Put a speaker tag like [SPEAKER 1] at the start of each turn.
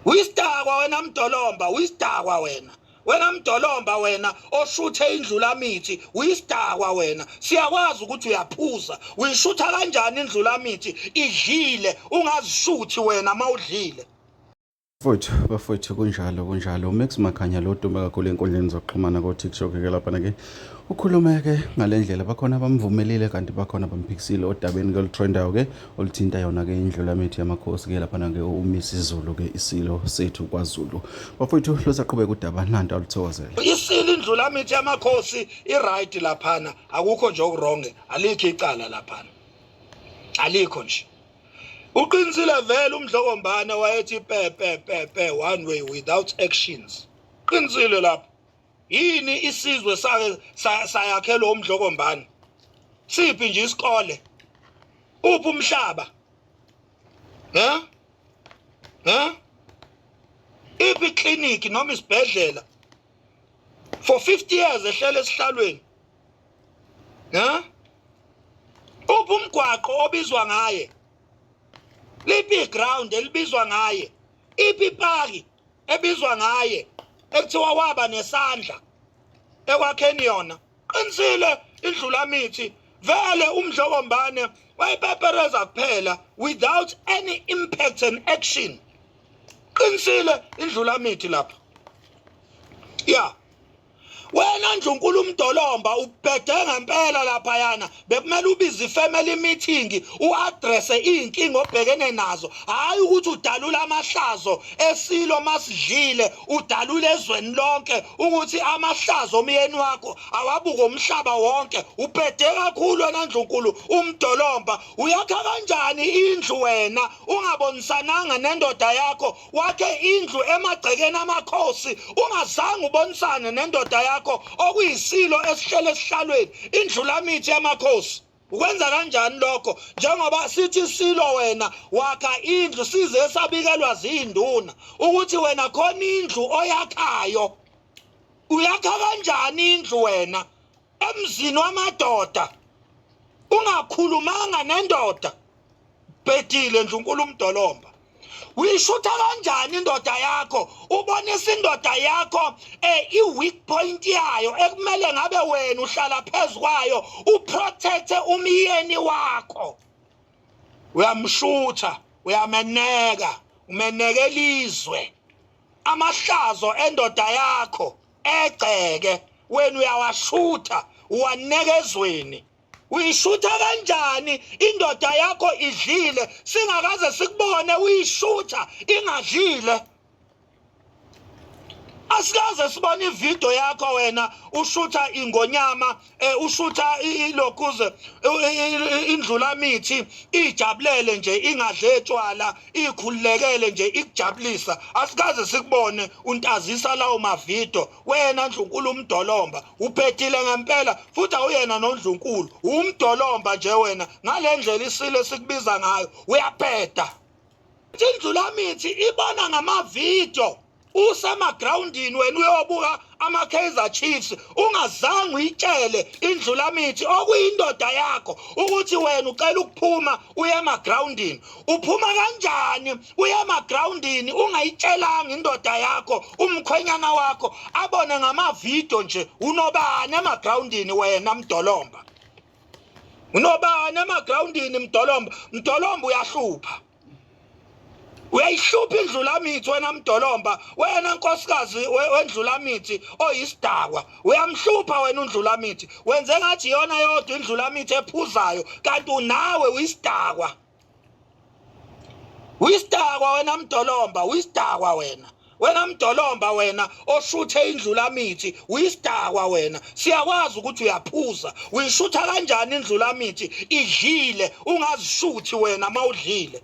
[SPEAKER 1] Uyisidakwa wena mdolomba, uyisidakwa wena. Wena mdolomba wena oshuthe indlula mithi, uyisidakwa wena. Siyakwazi ukuthi uyaphuza. Uyishutha kanjani indlula mithi? Idlile, ungazishuthi wena mawudlile. Mfowethu
[SPEAKER 2] bafowethu kunjalo kunjalo uMax Makhanya lo dume kakhulu enkundleni zokuxhumana ko-TikTok ke lapha ke ukhulume ke ngale ndlela bakhona abamvumelile kanti bakhona bamphikisile odabeni ke olutrendayo ke oluthinta yona-ke indlulamethu yamakhosi-ke laphana-ke umisa izulu ke isilo sethu kwazulu bafowethu losaqhubeka udaba nanto aluthokozele isilo indlulamethu
[SPEAKER 1] yamakhosi i-right laphana akukho nje okuronge alikho icala laphana alikho nje uqinisile vele umdlokombane wayethi pepepepe one way without actions qinisile lapho yini isizwe sake sayakhelwa umdlokombani siphi nje isikole uphi umhlaba ne ne iphi clinic noma isibhedlela for 50 years ehlele esihlalweni ne uphi umgwaqo obizwa ngaye liphi iground elibizwa ngaye iphi ipaki ebizwa ngaye ekuthiwa waba nesandla ekwakheni yona qinisile indlulamithi vele umdlokombane wayipepereza kuphela without any impact and action qinisile indlulamithi lapho ya yeah. wena nje unkulu umdolomba ubhede ngempela lapha yana bekumele ubize ifamily meeting uaddresse izinkinga obhekene nazo hayi ukuthi udalula amahlazo esilo masidlile udalule ezweni lonke ukuthi amahlazo omyeni wakho awabuke umhlaba wonke ubhede kakhulu wena ndlunkulu umdolomba uyakha kanjani indlu wena ungabonisananga nendoda yakho wakhe indlu emagcekeni amakhosi ungazange ubonisane nendoda yakho okuyisilo esihlele esihlalweni indlulamithi yamakhosi ukwenza kanjani lokho njengoba sithi silo wena wakha indlu size sabikelwa zinduna ukuthi wena khona indlu oyakhayo uyakha kanjani indlu wena emzini wamadoda ungakhulumanga nendoda bhedile ndlunkulu umdolomba uyishutha kanjani indoda yakho ubonisa indoda yakho eh i-weak point yayo ekumele ngabe wena uhlala phezu kwayo uprotecte umyeni wakho uyamshutha uyameneka umeneka elizwe amahlazo endoda yakho egceke wena uyawashutha uwanekezweni uyishutha kanjani indoda yakho idlile singakaze sikubone uyishutha ingadlile asikaze sibone ividiyo yakho wena ushutha ingonyama eh ushutha ilokuze indlulamithi ijabulele nje ingadle etshwala ikhululekele nje ikujabulisa asikaze sikubone untazisa lawo mavido wena ndlunkulu umdolomba uphethile ngempela futhi awuyena nondlunkulu umdolomba nje wena ngalendlela isile sikubiza ngayo uyapheda Indlulamithi ibona ngamavidiyo usemagrawundini wena uyobuka ama-kaizer chiefs ungazange uyitshele indlulamithi okuyindoda yakho ukuthi wena ucela ukuphuma uye emagrawundini uphuma kanjani uye emagrawundini ungayitshelanga indoda yakho umkhwenyana wakho abone ngamavidiyo nje unobani emagrawundini wena mdolomba unobani emagroundini mdolomba mdolomba uyahlupha uyayihlupha indlulamithi wena mdolomba wena nkosikazi wendlulamithi oyisidakwa uyamhlupha wena undlulamithi wenze ngathi iyona yodwa indlulamithi ephuzayo kanti unawe uyisidakwa uyisidakwa wena mdolomba uyisidakwa wena wena mdolomba wena oshuthe indlulamithi uyisidakwa wena siyakwazi ukuthi uyaphuza uyishutha kanjani indlulamithi idlile ungazishuthi wena mawudlile